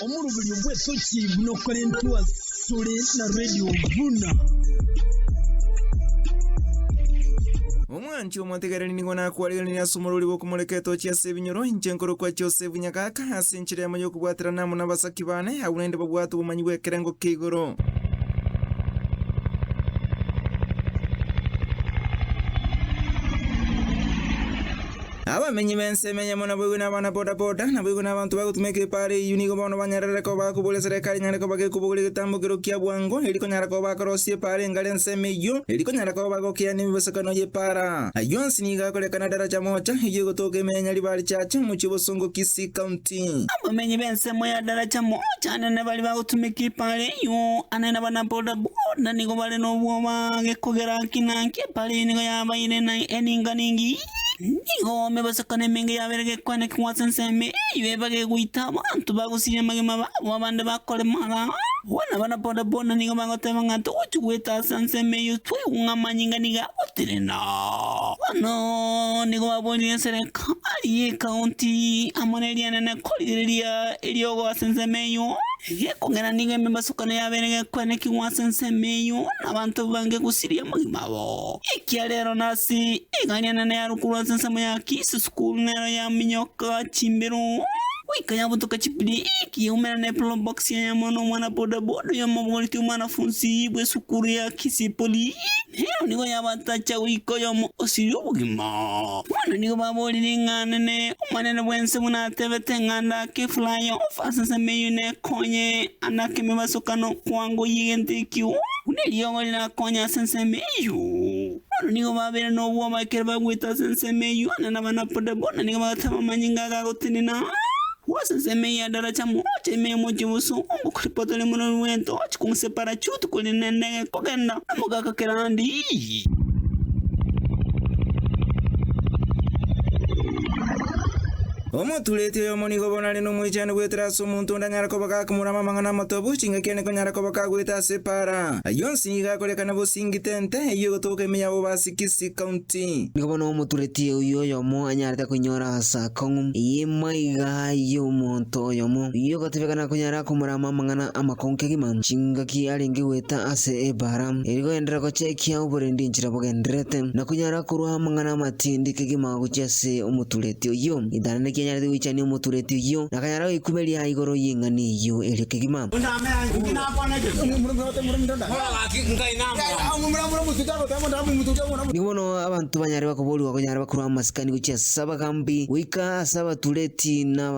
Omoruberio bw'etochi buna okorentwa asore na radio buna. Omwanchi omotegereri nigo nakwarigeranirie ase omorori bw'okomoreka etochi ase ebinyoro, inche nkorokwa Josefu Nyagaka, ase enchera yamo y'okobwaterana amo nabasaki baane, agwo naende babwate obomanyi bw'ekerengo kia igoro. Abamenyi b'ensemo eyemo naboigo n'abana-bodaboda, naboigo n'abanto bagotuma ekeepara eyio nigo bono banyararire koba bakoboria eserekari enyare koba gekobogora egetambo ekerogo kia bwango, eri konyara koba bakorosia epaara engare ensemo eyio, eri konyara koba bagokeana emibosokano y'epaara. Ayio onsi nigo akorekana daraja mocha, eyio egotooka ime ya Nyaribari Church, omochie o Bosongo Kisii County. Abamenyi b'ensemo ya daraja mocha anene baria bagotuma ekeepara eyio, ane n'abana-bodaboda nigo bare nobwoba gekogera ng'ina ki epaara eyio nigo yabaire na eninga ningi. Nigo omebasakano emenge yabeire gekwanekigwa ase ensemo eyio ebaga egoita abanto bagosiria amagima babo abande bakoremara. Abwo nabo na bodaboda nigo bagoteba ng'a togochia goeta ase ensemo eyio twaigwa ng'a amanyinga nigo agotenena. Bono nigo baboorire eserekari y'ekaunti amo ne rianene korigereria eriogo ase ensemo eyio. Gekogera nigo emebasakano yabeire gekwanekigwa ase ensemo eyio na abanto baange gosiria amagima abo. Ekiagera nase egariana nearukorwa ase ensemo ya Kiss School nero yaminyoka chimbero goika yabotoka chipiri ekiyaumera ne Pro Box yayamwa nomwana boda boda oyomobogoreti omwanafunsi bw'esukuru ya Kiss Poly nero nigo yabatacha goika oyomo osirie obogima. Bono nigo baborire ng'a nene Omonene bw'ensemo natebete ng'a ndake fly off ase ensemo eyio ne Konye ana kemebasokano kwango y'egento ekio, buna eriogo rirakonye ase ensemo eyio. Bono nigo babeire nobwoba ekero bagwete ase ensemo eyio, Ana na Abanapoda bona nigo bagateba amanyinga aya gagotenena. Agwo ase ensemo eyio ya Daracha mogocha ime y'omochie bw'Obosongo, koripota rimo na orwento, ochiko gose parachuti korende na endege kogenda na mogaka kerandi. Omotureti oyomo nigo bono are nomoichano goetera ase omonto onde anyare koba gakomorama amang'ana amatongo, chingaki ane konyara koba kagoeta ase epaara. Ayio onsi nigo akorekana bosii ngitente eyio egotoboka ime yabo base Kisii County. Nigo bono omotureti oyio oyomo anyarete koinyora ase akong'u eye maiga ayio omonto oyomo oyio ogotebekana konyara komorama amang'ana amakongu kegima, chingaki arenge goeta ase epaara. Eri goenderera gochekia oborendi enchera bogendererete, na konyara. korwa amang'ana amatindi kegima gochia ase omotureti oyio, ritang'ani rikianyarete goichania omotureti oyio, na akanyara goikumeria igoro y'ing'ani eyio erio kegima. Nigo bono abanto banyare bakoboorigwa konyara bakorwa amasikani gochia ase abagaambi goika ase abatureti na.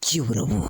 chi'oborabu.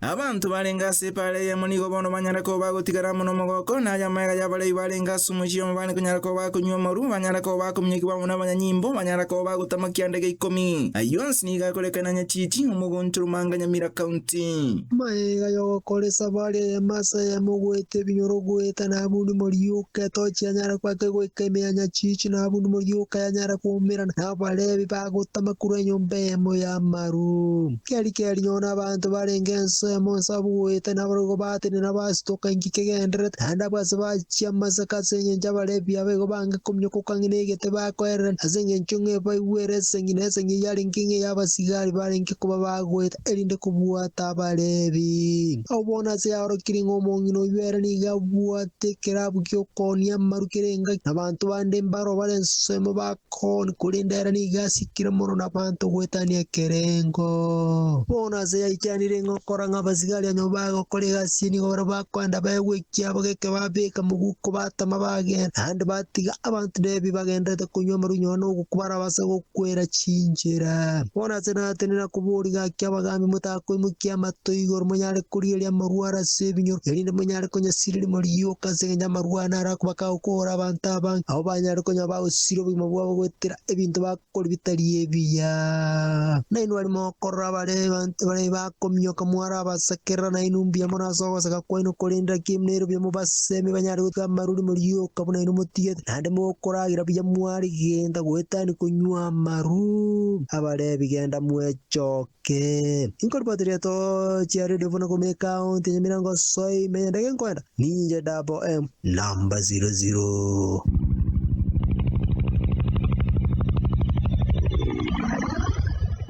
Abanto barenge ase epaara eyemo nigo bono banyare koba bagotigara amo n'omogoko, na ay'amagega y'abarei barenge ase omochie oyomo bane konyara koba bakonywa omoru, banyare koba bakominyokigwa amo n'abanyanyimbo, banyare koba bagotama kianda gia ikomi. Ayio onsi nigo akorekana Nyachiti, omogounte Rumanga, Nyamira County. Magega y'ogokoresa bare eyemo ase eyemo, goeta ebinyoro, goeta na abundi moriu. Getochi yanyara goaka goika emeanya chiichi na buna morioka yanyara koumerana na Abalevi bagotama korwa enyomba eyemo y'amaru. Kiaria kiarinyore na abanto barenge ense emo onsi abwo goeta nabarabwo bateine nabo ase toka inki kegendererete, naende abwo ase bachia Amasaka ase engencho Abalevi aba igo bange kominyokoka ng'ina egete bakoererana ase engencho ng'a ebaigwere esegi na esegi eyarenge ng'a ey'abasigari barenge koba bagoeta erinde kobwata Abalevi. Nao bono ase yaorokirie ng'a omong'ina oyio ere nigo abwate. Tekerabu gi'okoonia amaru kere engaki, nabanto bande mbaro bare ensemo bakooni, korende ere nigo asikire mono nabanto goetania ekerengo. Bono ase yaikianire ng'a okora ng'a abasigari a nyomba yaye gokora egasi eye nigo bare bakoenda baegwe ekiabo geke babeka moguko batama bagenda, naende batiga abanto nebi bagendererete konywa amaru nyuma nogoku barabase kwera chinchera. Bono ase natenena koboria gaki abagaambi motakoimokia amato igoro monyare korigereria amarwaro ase ebinyoro, erinde monyare konyasiria morioka ase engencho y'amarwaro naro akobaka gokoora abanto abange, abwo banyare konya bagosiria obogima bwabo goetera ebinto bakoria bitari ebiya. Nainwe barimo gokorora bare abanto bare Kominyoka mware abasakerera nainwe mbuya mono ase ogosaka kwaino, korende naki nero biamo basemi banyare gotiga amaruri morioka buna inwe motigete, naende mokoragira buya mware genta goetania konywa amaru. Abarebi genda mwechoke. Inkoripoti rieto chia redio buna komi ekaunti ya Nyamirango soima, eye ndege nkoenda. Ninche dabo em number zero zero.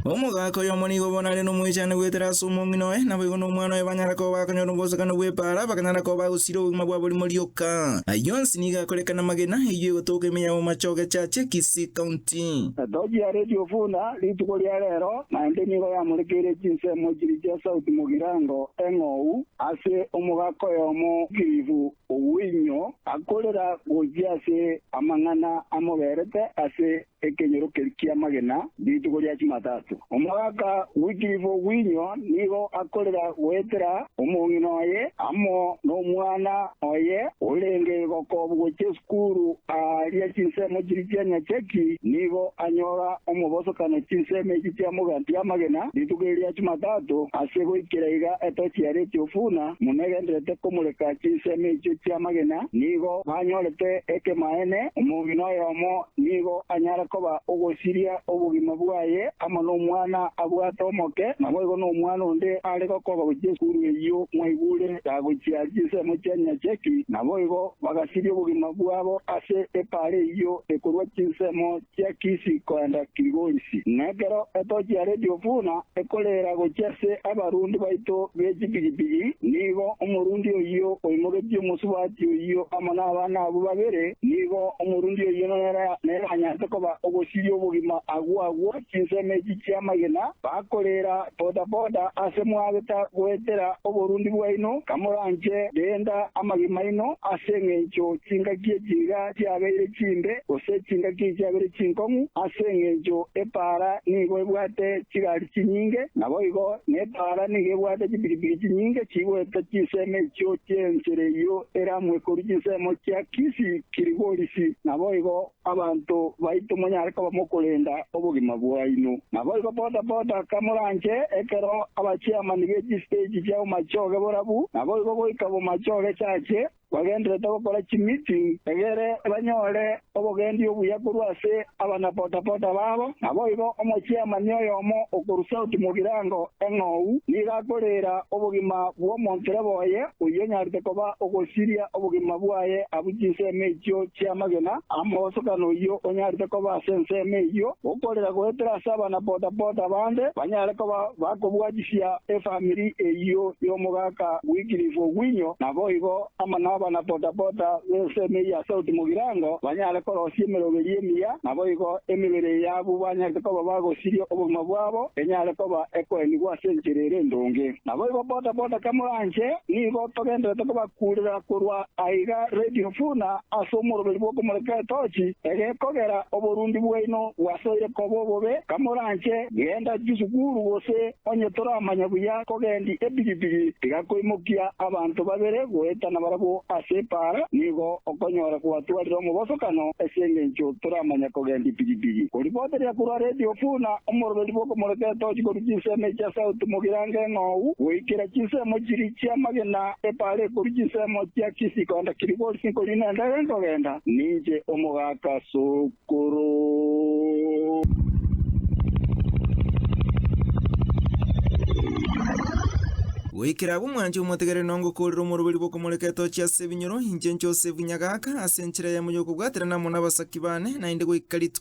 Omogaka oyomo nigo bono are nomoechani goetera ase omong'ina oye, naboigo nomwana oye banyare koba bakonyora obosokani bw'epaara, bakanyara koba bagosira obogima bwabo rimo rioka. Ayio onsi nigo akorekana amagena, eyio egotoka ime ya Bomachoge Church, Kisii County. Timoti. Etochi ya Radio Fula rituko ria rero naende nigo yamorekeire chinsemo chiri chia sauti mogirango eng'ou ase omogaka oyomo Kirifu Owinyo akorera gochia ase amang'ana amoberete ase ekenyorokeri ki'amagena rituko ria Chimatato. Omogaka Wycliffe Owinyo nigo akorera goetera omong'ina oye amo nomwana oye orenge gokobugwa Jesu. Kuru aaria chinsemo chiria chia nyachaki nigo anyora omobosokano chinsemo echi chia moganti y'amagena rituko eri ria Chumatato ase goikera iga etochi yaria etiofuna muno egendererete komureka chinsemo echio chi'amagena nigo banyorete ekemaene omogina oyomo nigo anyare koba ogosiria obogima bwaye amo nomwana abwate omoke naboigo nomwana onde are gokoba gochia esukuru eyio mwaigure Tagochia chinsemo chia Nyacheki, naboigo bagasiria obogima bwabo ase epaara eyio ekorwa chinsemo chia Kisi koenda Kilgolisi. Nekero etochi ya redio buna ekoreera gochia ase abarundi baito be chipigipigi, nigo omorundi oyio oimogetie omosubati oyio amo nabana abwo babere, nigo omorundi oyio nere neranyarete koba ogosiria obogima agwo agwo. Chinsemo echi chi'amagena bakorera bodaboda ase mwageta goetera oborundi bwaino, kamoranche renda amagima aino ase engencho chingaki echiiga chiabeire chimbe gose chingaki chiabeire chinkong'u ase engencho epaara nigo ebwate chigari chinyinge naboigo nepaara nigo ebwate chipikipiki chinyinge chigoeta chinsemo echio chi'ensera eyio eramwe korwa chinsemo chia Kisi Kiligorisi naboigo Abanto baito monyare koba mokorenda obogima bwaino. Naboigo boda-boda kamoranche ekero abachiamani be chistage chia omachoge borabu, naboigo goika bomachoge chache, bagenderete gokora chimeeting egere banyore obogendi obuya korwa ase abana-boda-boda babo. Naboigo omochiamani oyomo okorwa South Mugirango eng'ou nigo akoreera obogima bw'omontoroba oye oyio onyarete koba ogosiria Obogima bwaye abwo chinsemo echio chi'amagena, amogosokano oyio onyarete koba ase ensemo eyio, gokorera goetera ase abana boda-boda bande banyare koba bakobwatisia efamiri eyio y'omogaka Wycliffe Ogwinyo, naboigo amo nabana boda-boda b'ensemo eyio ya Sauti Mogirango banyare korosia emeroberio emiya, naboigo emebere y'abwo banyarete koba bagosiria obogima bwabo enyare koba ekoenigwa ase enchera ere endonge. Naboigo boda boda kamoranche, nigo togenderete kobakuurera korwa aiga Radio Funa ase omoroberi bw'okomoreka etochi, egekogera oborundi bwaino bwasoire koba obobe, kamoranche genda chisukuru gose onye toramanya buya kogendi epigipigi tiga koimokia abanto babere goetana barabwo ase epaara nigo okonyora gwatwarire omobosokano ase engencho toramanya kogendi pigipigi. Koriboteria korwa Radio Funa omoroberi bw'okomoreka etochi korwa chinsemo echia Sauti mogirango eng'ou goikera chinsemo chiria chi'amagena epaale korwa chinsemo chia Kisikonda Kiribors nkori nendagera nkogenda, ninche omogaaka sokoro. Goikera agwo mwanche omotegerere nongo koorera omoroberi bw'okomoreka etochi ase ebinyoro, inche Josefu nyagaaka ase enchera yamo y'okobwaterana amo nabasaki baane, naende goika rituko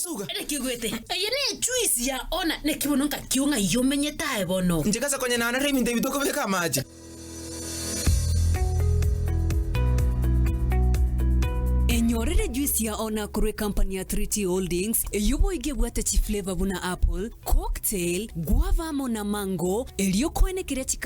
Suga. Ere kigwete. Eye ne echuisi ya ona ne kibono nka kio ng'ai omenyete aye bono. Inche gase konyenanera ebinto ebi tokobeka amache. Enyorere echuisi ya ona korwa ekampani ya 3T Holdings eyio boigo ebwate chiflavor buna apple, cocktail, guava amo na mango, erio okoene keria chikare